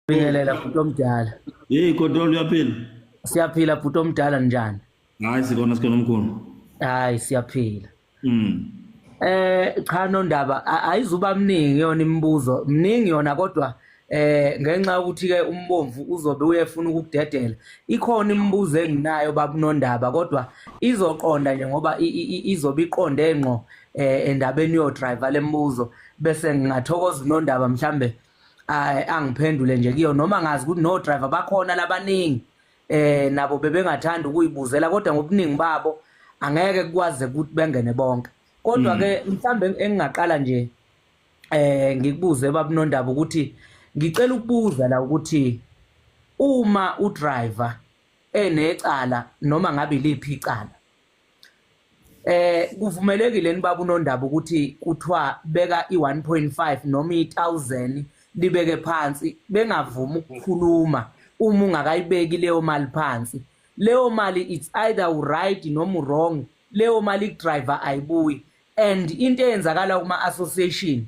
Bingelela bhuti omdala. Hey kodwa uyaphila? Siyaphila bhuti omdala njani? Hayi sikona sikona mkhulu. Hayi siyaphila. Mm. Eh cha nondaba ayizuba mningi yona imibuzo. Mningi yona kodwa eh ngenxa ukuthi ke umbomvu uzobe uyefuna ukudedela ikhona imibuzo enginayo babunondaba kodwa izoqonda nje ngoba izobe iqonde ngqo eh endabeni yo driver lemibuzo bese ngingathokoza unondaba mhlambe eh, ay angiphendule nje kuyo noma ngazi ukuthi no driver bakhona labaningi eh nabo bebengathanda ukuyibuzela kodwa ngobuningi babo angeke kwaze ukuthi bengene bonke kodwa ke mm. mhlambe engingaqala nje eh ngikubuze babunondaba ukuthi ngicela ukubuza la ukuthi uma u driver enecala noma ngabe liphi icala Eh kuvumelekile nibaba unondaba ukuthi kuthiwa beka i1.5 noma i1000 libeke phansi bengavumi ukukhuluma uma ungakayibeki leyo mali phansi leyo mali it's either u right noma u wrong leyo mali driver ayibuyi and into eyenzakala kuma association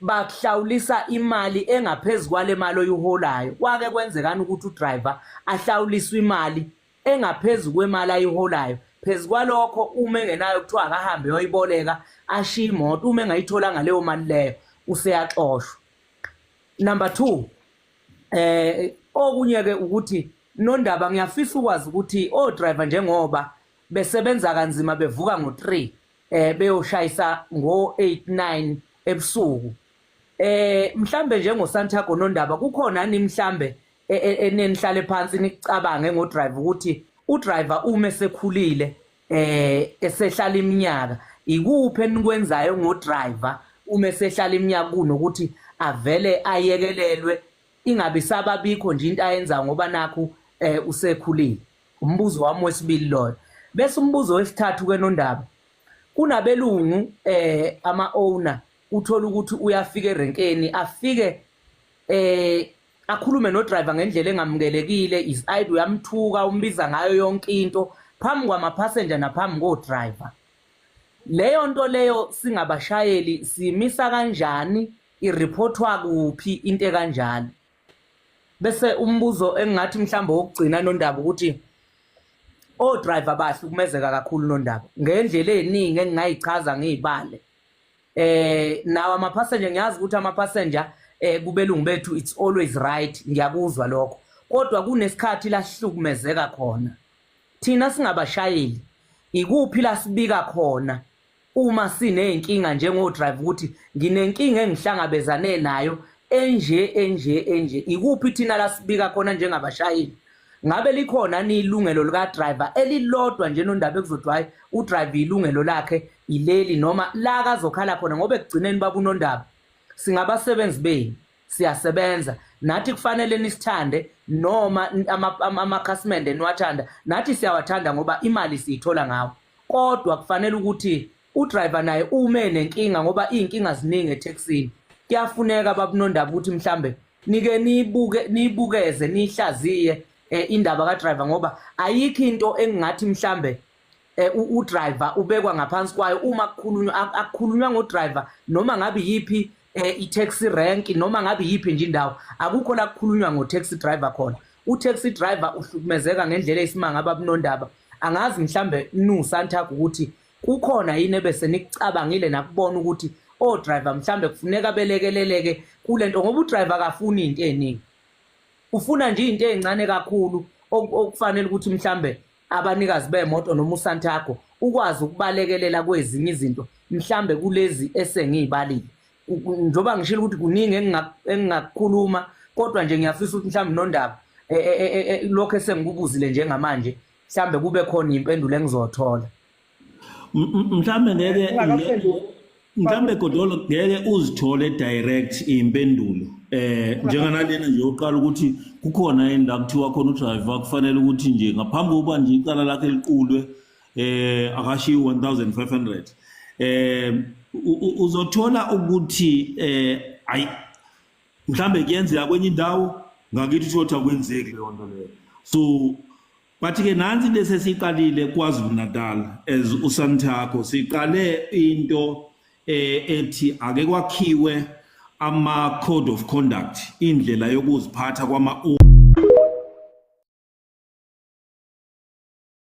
bakuhlawulisa imali engaphezulu kwale mali oyiholayo kwake kwenzekani ukuthi udriver ahlawuliswe imali engaphezu kwemali ayiholayo phezu kwalokho uma engenayo kuthiwa akahambe yoyiboleka ashiye imoto uma engayitholanga leyo mali leyo useyaxoshwa number two eh okunye-ke ukuthi nondaba ngiyafisa ukwazi ukuthi o-driver njengoba besebenza kanzima bevuka ngo-three eh beyoshayisa ngo-eight nine ebusuku eh mhlambe njengosantago nondaba kukhona ni mhlambe e, e, enenihlale phansi nicabange ngo driver ukuthi u driver uma esekhulile eh esehlala iminyaka ikuphi enikwenzayo ngo driver uma esehlala iminyaka kunokuthi avele ayekelelwe ingabe sababikho nje into ayenza ngoba nakho eh usekhulile umbuzo wami wesibili loyo bese umbuzo wesithathu ke nondaba kunabelungu eh ama owner uthola ukuthi uyafika erenkeni afike eh akhulume nodriver ngendlela engamukelekile is id uyamthuka umbiza ngayo yonke into phambi kwamapassenger naphambi kodriver leyo nto leyo singabashayeli simisa kanjani ireportwa kuphi into ekanjalo bese umbuzo engingathi mhlawumbe wokugcina nondaba ukuthi odriver bahlukumezeka kakhulu nondaba ngendlela eningi engingayichaza ngiyibale eh nawo ama passenger ngiyazi ukuthi ama passenger eh kubelungu bethu it's always right ngiyakuzwa lokho kodwa kunesikhathi lahlukumezeka khona thina singabashayeli ikuphi lasibika khona uma sineyinkinga njengo drive ukuthi nginenkinga engihlangabezane nayo enje enje enje ikuphi thina lasibika khona njengabashayeli ngabe likhona ni ilungelo lika driver elilodwa nje nondaba ekuzodwa hayi u driver ilungelo lakhe ileli noma la kazokhala khona ngoba ekugcineni babunondaba singabasebenzi benu siyasebenza nathi kufanele nisithande noma amakhasimende niwathanda nathi siyawathanda ngoba imali siyithola ngawo kodwa kufanele ukuthi udriver naye ume nenkinga ngoba iy'nkinga ziningi ethekisini kuyafuneka babunondaba ukuthi mhlambe nike nibuke nibukeze nihlaziye eh, indaba ka driver ngoba ayikho into engingathi mhlambe eh, u driver ubekwa ngaphansi kwayo uma kukhulunywa akukhulunywa ngo driver noma ngabe yipi eh, i taxi rank noma ngabe yipi nje indawo akukho la kukhulunywa ngo taxi driver khona u taxi driver uhlukumezeka ngendlela esimanga babunondaba angazi mhlambe nu santaku ukuthi kukhona yini ebese nikucabangile nakubona ukuthi o driver mhlambe kufuneka belekeleleke kulento ngoba u driver akafuni into eningi ufuna nje into ezincane kakhulu okufanele ukuthi mhlambe abanikazi bemoto noma uSantago ukwazi ukubalekelela kwezinye izinto mhlambe kulezi esengiyibalile njoba ngishilo ukuthi kuningi engingakukhuluma kodwa nje ngiyafisa ukuthi mhlambe nondaba e, e, e, lokho esengikubuzile njengamanje mhlambe kube khona impendulo engizothola mhlambe ngeke mhlambe godolo ngeke uzithole direct impendulo eh njenganalena nje uqala ukuthi kukhona indawo kuthiwa khona udriver kufanele ukuthi nje ngaphambi kokuba nje icala lakhe liqulwe eh akashiyi 1500 eh uzothola ukuthi eh ayi mhlambe kuyenzeka kwenye indawo ngakithi kusho ukuthi akwenzeki leyo nto leyo so bathi-ke nansi into esesiyiqalile kwazulu natal as usanthakho siqale into eh, ethi ake kwakhiwe ama-code of conduct indlela yokuziphatha kwama